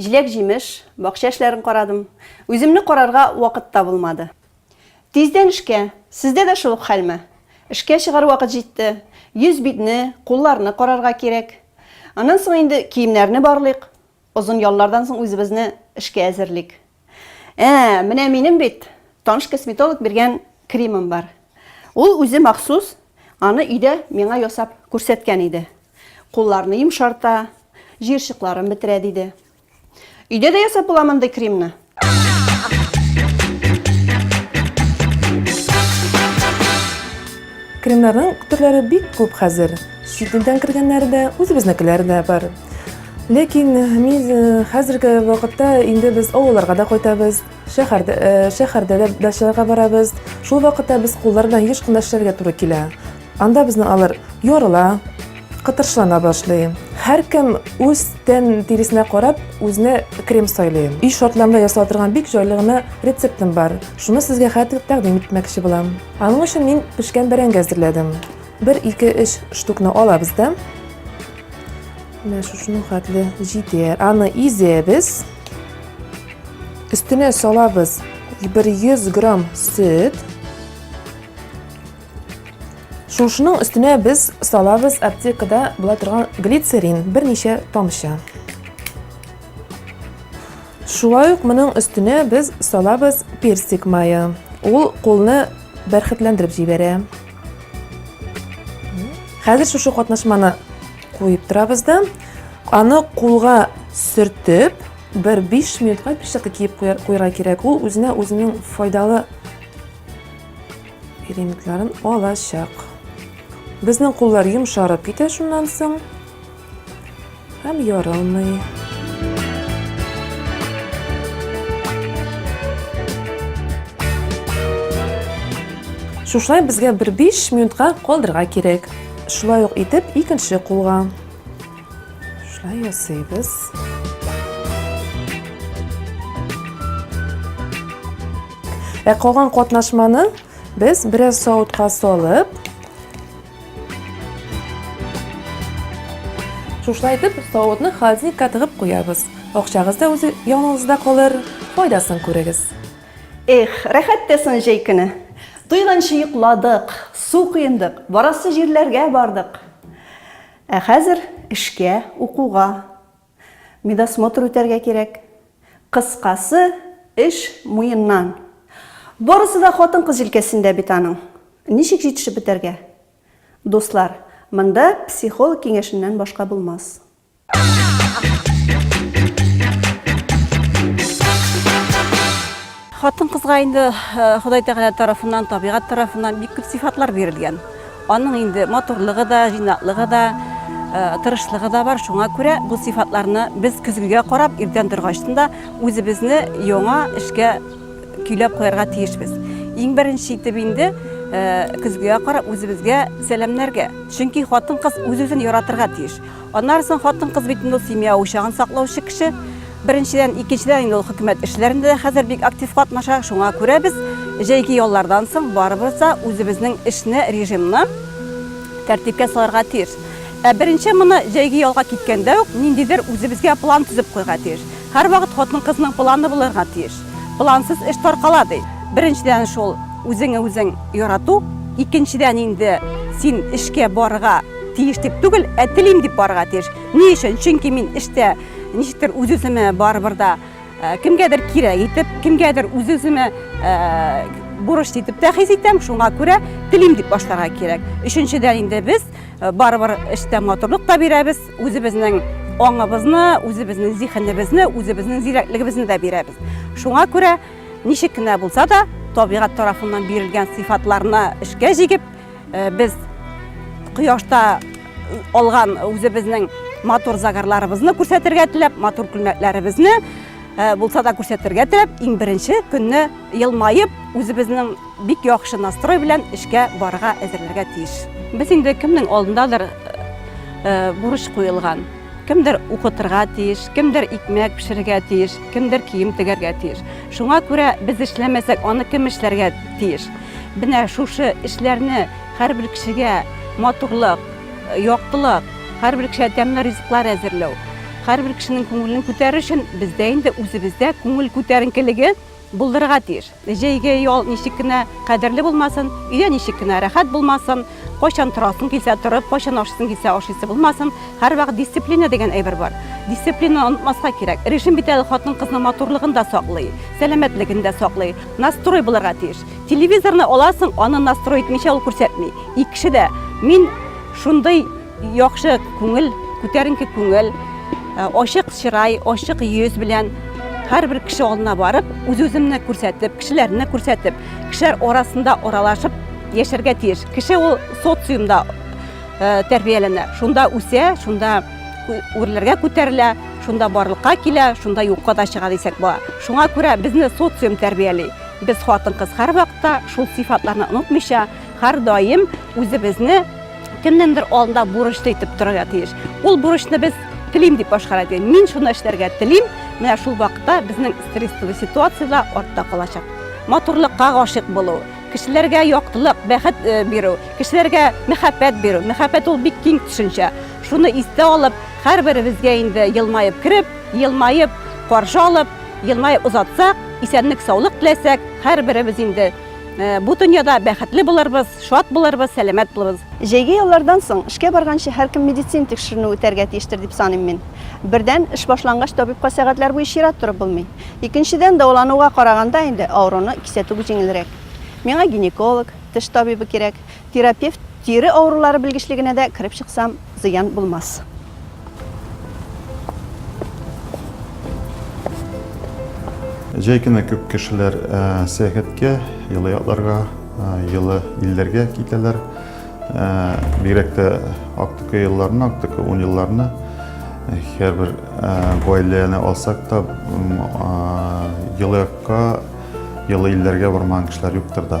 Җиләк-җимеш, бакча эшләрен карадым. Үземне карарга вакыт та булмады. Тиздән эшкә. Сездә дә шул ук хәлме? Эшкә чыгар вакыт җитте. Йөз-битне, кулларны карарга кирәк. Аннан соң инде киемнәрне барлыйк. Озын яллардан соң үзебезне эшкә әзерлик. Ә, менә минем бит таныш косметолог биргән кремым бар. Ул үзе махсус аны өйдә миңа ясап күрсәткән иде. Кулларны йомшарта, җыерчыкларын бетерә диде. Өйдә дә ясап була мондый кремны. Кремнарның төрләре бик күп хәзер. Чит илдән кергәннәре дә, үзебезнекеләре дә бар. Ләкин мин хәзерге вакытта инде без авылларга да кайтабыз, шәһәрдә, шәһәрдә дә дачаларга барабыз. Шул вакытта без куллар белән еш кына эшләргә туры килә. Анда безне алар ярыла, кытыршылана башлый. Һәркем үз тән тиресенә карап, үзенә крем сайлый. Өй шартларында ясала торган бик җайлы гына рецептым бар. Шуны сезгә хәтер тәкъдим итмәкче булам. Аның өчен мин пешкән бәрәңге әзерләдем. Бер ике өч штукны алабыз да, Менә шушының хәтле җитәр. Аны изәбез. Өстенә салабыз 100 грамм сөт. Шушының өстенә без салабыз аптекада була торган глицерин, берничә тамчы. Шулай ук моның өстенә без салабыз персик мае. Ул кулны бәрхетләндереп җибәрә. Хәзер шушы катнашманы куеп торабыз да аны кулга сөртеп бер 5 минутка пешеккә киеп куярга кирәк ул үзенә үзенең файдалы элементларын алачак безнең куллар йомшарып китә шуннан соң һәм ярылмый шушылай безгә бер 5 минутка калдырырга кирәк Шулай ук итеп икенче кулга. Шулай ясыйбыз. Ә калган катнашманы без бераз савытка салып, шушылай итеп савытны холодильникка тыгып куябыз. Акчагыз да үз яныңызда калыр, файдасын күрегез. Эх, рәхәт тә сон җәй көне. Туйганчы йокладык, су коендык, барасы җирләргә бардык. Ә хәзер эшкә, укуга, медосмотр үтәргә кирәк. Кыскасы, эш муеннан. Барысы да хатын-кыз җилкәсендә бит аның. Ничек җитешеп бетәргә? Дуслар, монда психолог киңәшеннән башка булмас. Хатын кызга инде Ходай Тәгалә тарафыннан, табигать тарафыннан бик күп сифатлар бирелгән. Аның инде матурлыгы да, җыйнаклыгы да, Э, тырышлыгы да бар шуңа күрә бу сыйфатларны без көзгегә карап иртән торгачтын да үзебезне яңа эшкә көйләп куярга тиешбез иң беренче итеп инде э, көзгегә карап үзебезгә сәламнәргә чөнки хатын кыз үз үзен яратырга тиеш Аннары соң хатын-кыз бит инде ул семья учагын саклаучы кеше. Беренчедән, икенчедән инде ул хөкүмәт эшләрендә дә хәзер бик актив катнаша. Шуңа күрә без җәйге яллардан соң барыбыз да үзебезнең эшне, режимны тәртипкә салырга тиеш. Ә беренче моны җәйге ялга киткәндә үк ниндидер үзебезгә план төзеп куйга тиеш. Һәрвакыт хатын-кызның планы булырга тиеш. Плансыз эш таркала, ди. Беренчедән шул үзеңе үзең ярату, икенчедән инде син эшкә барырга, Тиеш дип түгел, ә телим дип барырга тиеш. Ни өчен? Чөнки мин эштә ничектер үз-үземә барыбер да э, кемгәдер кирәк итеп, кемгәдер үз-үземә э, бурыч итеп тә хис итәм, шуңа күрә телим дип башларга кирәк. Өченчедән инде без э, барыбер эштә матурлык та бирәбез, үзебезнең аңыбызны, үзебезнең зиһенебезне, үзебезнең зирәклегебезне дә бирәбез. Шуңа күрә ничек кенә булса да табигать тарафыннан бирелгән сыйфатларны эшкә җигеп, Э, без кояшта э, алган үзебезнең матур загарларыбызны күрсәтергә теләп, матур күлмәкләребезне э, булса да күрсәтергә теләп, иң беренче көнне елмаеп, үзебезнең бик яхшы настрой белән эшкә барырга әзерләргә тиеш. Без инде кемнең алдындадыр бурыч куелган. Кемдер укытырга тиеш, кемдер икмәк пешерергә тиеш, кемдер кием тегәргә тиеш. Шуңа күрә без эшләмәсәк, аны кем эшләргә тиеш? Менә шушы эшләрне һәрбер кешегә матурлык, яктылык, һәрбер кешегә тәмле ризыклар әзерләү, һәрбер кешенең күңелен күтәрү өчен бездә инде үзебездә күңел күтәренкелеге булдырырга тиеш. Җәйге ял ничек кенә кадерле булмасын, өйдә ничек кенә рәхәт булмасын, Кайчан торасың килсә торып, кайчан ашыйсың килсә ашыйсы булмасын, һәрвакыт дисциплина дигән әйбер бар. Дисциплина онытмаска кирәк. Режим бит әле хатын кызның матурлыгын да саклый, сәламәтлеген дә саклый. Настрой булырга тиеш. Телевизорны аласың, аны настрой итмичә ул күрсәтми. Икенче дә, мин шундый Яхшы күңел, күтәренке күңел, ачык чырай, ачык йөз белән һәрбер кеше алдына барып, үз-үземне күрсәтеп, кешеләрне күрсәтеп, кешеләр арасында аралашып яшәргә тиеш. Кеше ул социумда э, тәрбияләнә. Шунда үсә, шунда үрләргә күтәрелә, шунда барлыкка килә, шунда юкка да чыга дисәк була. Шуңа күрә безне социум тәрбияли. Без хатын-кыз һәрвакытта шул сыйфатларны онытмыйча, һәрдаим үзебезне кемнеңдер алдында бурычлы итеп торырга тиеш. Ул бурычны без телим дип башкара дигән. Мин шуны эшләргә телим. Менә шул вакытта безнең стрессовый ситуацияләр артта калачак. Матурлыкка гашык булу, кешеләргә яктылык, бәхет э, бирү, кешеләргә мәхәббәт бирү. Мәхәббәт ул бик киң төшенчә. Шуны истә алып, һәрберебезгә инде елмаеп кереп, елмаеп каршы алып, елмаеп озатсак, исәнлек-саулык теләсәк, һәрберебез инде Э, бу дөньяда бәхетле булырбыз, шат булырбыз, сәламәт булырбыз. Җәйге яллардан соң эшкә барганчы һәркем медицин тикшеренү үтәргә тиештер дип саныйм мин. Бердән, эш башлангач табибка сәгатьләр буе чират торып булмый. Икенчедән, дәвалануга караганда инде авыруны кисәтү җиңелрәк. Миңа гинеколог, теш табибы кирәк. Терапевт тире авырулары белгечлегенә дә кереп чыксам, зыян булмас. Җәй көне күп кешеләр сәяхәткә, елы якларга, елы илләргә китәләр. Бигрәк тә актык елларны, актык ун елларны һәрбер гаиләне алсак та, елы якка, елы илләргә бармаган кешеләр юктыр да.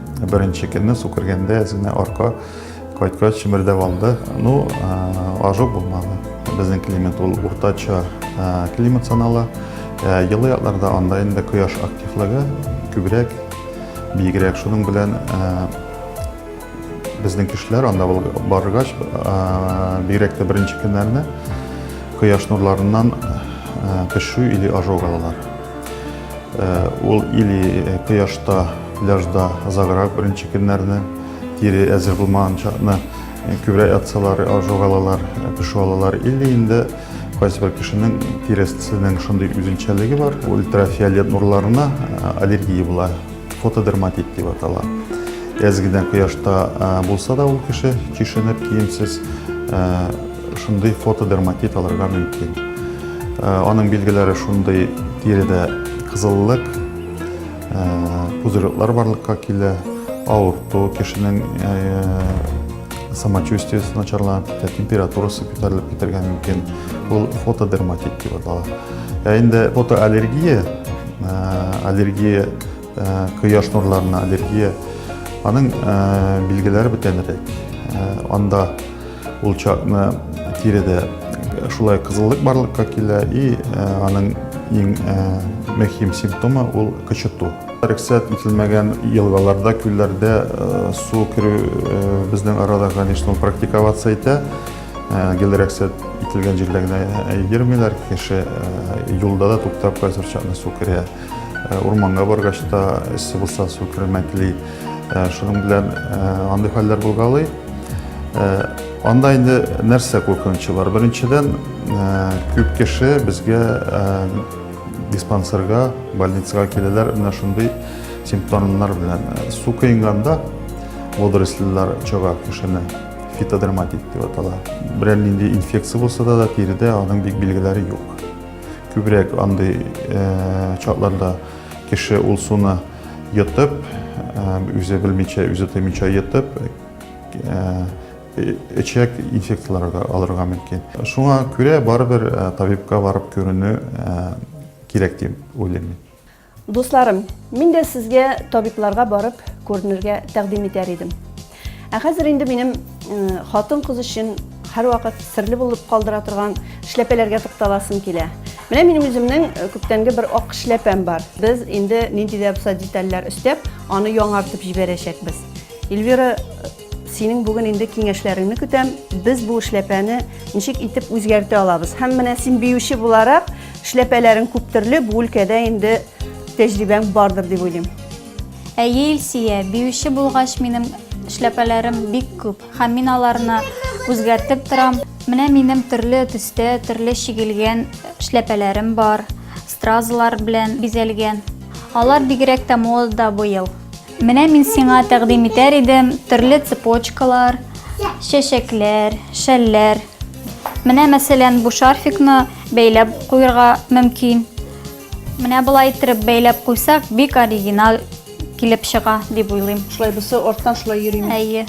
Беренче көнне су кергәндә әзенә арка кайткач чемердәп алды. Ну, ажып булмады. Безнең климат ул уртача климат санала. Елы якларда анда инде кояш активлыгы күбрәк, бигрәк шуның белән безнең кешеләр анда баргач, бигрәк тә беренче көннәрне кояш нурларыннан пешү или ожог алалар. Э, ул или э, кояшта, пляжда озаграк беренче көннәрне, тире әзер булмаган чакны э, күбрәк ятсалар, жогалалар, пешү алалар, или инде кайсы бер кешенең тиресенең шундый үзенчәлеге бар, ультрафиолет нурларына аллергия була, фотодерматит дип атала. Әз генә кояшта булса да ул кеше чишенеп, киемсез Шундый фотодерматит алырга мөмкин. Э, аның билгеләре шундый тиредә кызыллык, э, пузырьклар барлыкка килә, авырту, кешенең э, самочувствиесе начарланып китә, температурасы күтәрелеп китәргә мөмкин. Ул фотодерматит дип атала. Ә инде фотоаллергия, аллергия Э, кояш нурларына аллергия аның э, билгеләре бүтәнрәк э, анда ул чакны тиредә шулай кызыллык барлыкка килә и аның иң мөһим симптомы ул кычыту рөхсәт ителмәгән елгаларда күлләрдә су керү безнең арада конечно практиковаться итә гел рөхсәт ителгән җирдә генә йөрмиләр кеше юлда да туктап кайсыр чакны су керә Э, урманга баргач та эссе булса су кермәкли э, шуның белән э, андый хәлләр булгалый анда инде нәрсә куркынычы бар беренчедән күп кеше безгә диспансерга больницага киләләр менә шундый симптомнар белән су коенганда водоросльлар чага кешене фитодерматит дип атала берәр нинди инфекция булса да тиредә аның бик билгеләре юк Күбрәк андый чакларда кеше ул суны йотып, үзе белмичә, үзе тоймичә йотып, эчәк инфекцияләргә алырга мөмкин. Шуңа күрә барыбер табибка барып күренү кирәк дип уйлыйм. Дусларым, мин дә сезгә табибларга барып күренергә тәкъдим итәр идем. Ә хәзер инде минем хатын-кыз өчен һәрвакыт серле булып калдыра торган эшләпәләргә тукталасым килә. Менә минем үземнең күптәнге бер ак эшләпәм бар. Без инде нинди дә булса детальләр өстәп, аны яңартып җибәрәчәкбез. Эльвира Синең бүген инде киңәшләреңне көтәм. Без бу эшләпәне ничек итеп үзгәртә алабыз? Һәм менә син биюче буларак, эшләпәләрең күп төрле, бу өлкәдә инде тәҗрибәң бардыр дип уйлыйм. Әйе, Илсия, биюче булгач, минем эшләпәләрем бик күп, һәм мин аларны үзгәртеп торам. Менә минем төрле төстә, төрле чигелгән эшләпәләрем бар, стразалар белән бизәлгән. Алар бигрәк тә модада быел. Менә мин сиңа тәкъдим итәр идем төрле цепочкалар, чәчәкләр, шәлләр. Менә мәсәлән бу шарфикны бәйләп куйырга мөмкин. Менә болай иттереп бәйләп куйсак, бик оригинал килеп чыга дип уйлыйм. Шулай бусы арттан шулай йөрим. Әйе.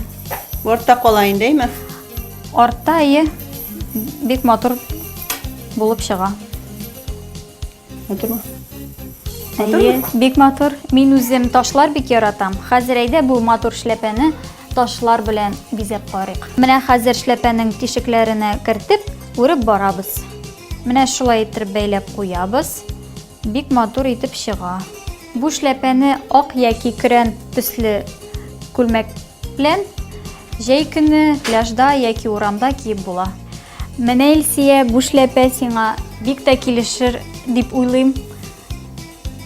Артта кала инде, әйме? Артта әйе. Бик матур булып чыга. Матурмы? Матурмы? Бик матур. Мин үзем ташлар бик яратам. Хәзер әйдә бу матур шляпәне ташлар белән бизәп карыйк. Менә хәзер шляпәнең тишекләренә кертеп, үреп барабыз. Менә шулай итеп бәйләп куябыз. Бик матур итеп чыга. Бу шляпәне ак яки көрән төсле күлмәк белән җәй көне пляжда яки урамда киеп була. Менә Илсия, бу шляпә сиңа бик тә килешер дип уйлыйм.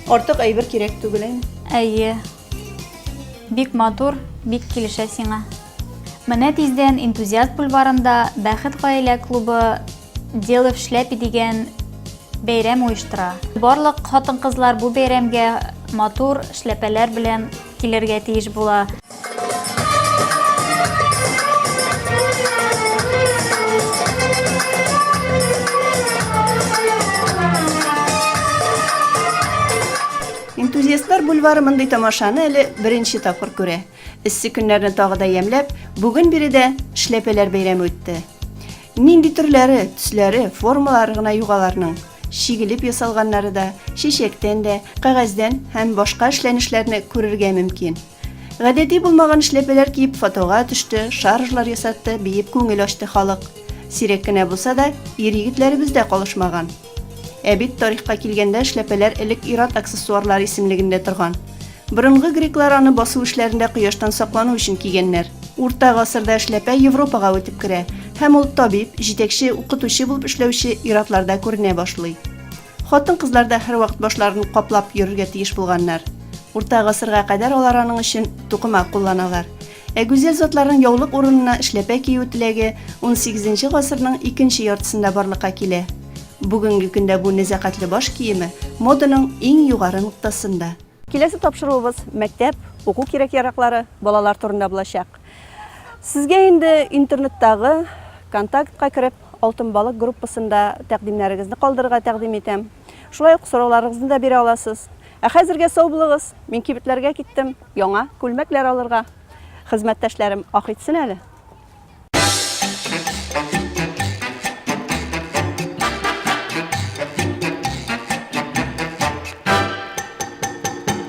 Артык әйбер кирәк түгел инде. Әйе. Бик матур, бик килешә сиңа. Менә тиздән энтузиаст бульварында Бәхет гаилә клубы Дело в шляпе дигән бәйрәм оештыра. Барлык хатын-кызлар бу бәйрәмгә матур шляпәләр белән килергә тиеш була. Энтузиастлар бульвары мондый тамашаны әле беренче тапкыр күрә. Эссе көннәрне тагы да ямьләп, бүген биредә Шляпәләр бәйрәме үтте. Нинди төрләре, төсләре, формалары гына юк аларның. Чигелеп ясалганнары да, чәчәктән дә, кәгазьдән һәм башка эшләнешләрне күрергә мөмкин. Гадәти булмаган эшләпәләр киеп фотога төште, шаржлар ясатты, биеп күңел ачты халык. Сирәк кенә булса да, ир-егетләребез дә калышмаган. Ә бит тарихка килгәндә эшләпәләр элек ир-ат аксессуарлары исемлегендә торган. Борынгы греклар аны басу эшләрендә кояштан саклану өчен кигәннәр. Урта гасырда эшләпә Европага үтеп керә һәм ул табиб, җитәкче, укытучы булып эшләүче ир-атларда күренә башлый. Хатын-кызлар да һәрвакыт башларын каплап йөрергә тиеш булганнар. Урта гасырга кадәр алар аның өчен тукыма кулланалар. Ә гүзәл затларның яулык урынына эшләпә кию теләге 18 гасырның икенче яртысында барлыкка килә. Бүгенге көндә бу нәзакәтле баш киеме моданың иң югары ноктасында. Киләсе тапшыруыбыз мәктәп, уку кирәк-яраклары, балалар турында булачак. Сезгә инде интернеттагы контактка кереп, Алтын балык группасында тәкъдимнәрегезне калдырырга тәкъдим итәм. Шулай ук сорауларыгызны да бирә аласыз. Ә хәзергә сау булыгыз! Мин кибетләргә киттем яңа күлмәкләр алырга. Хезмәттәшләрем ах итсен әле!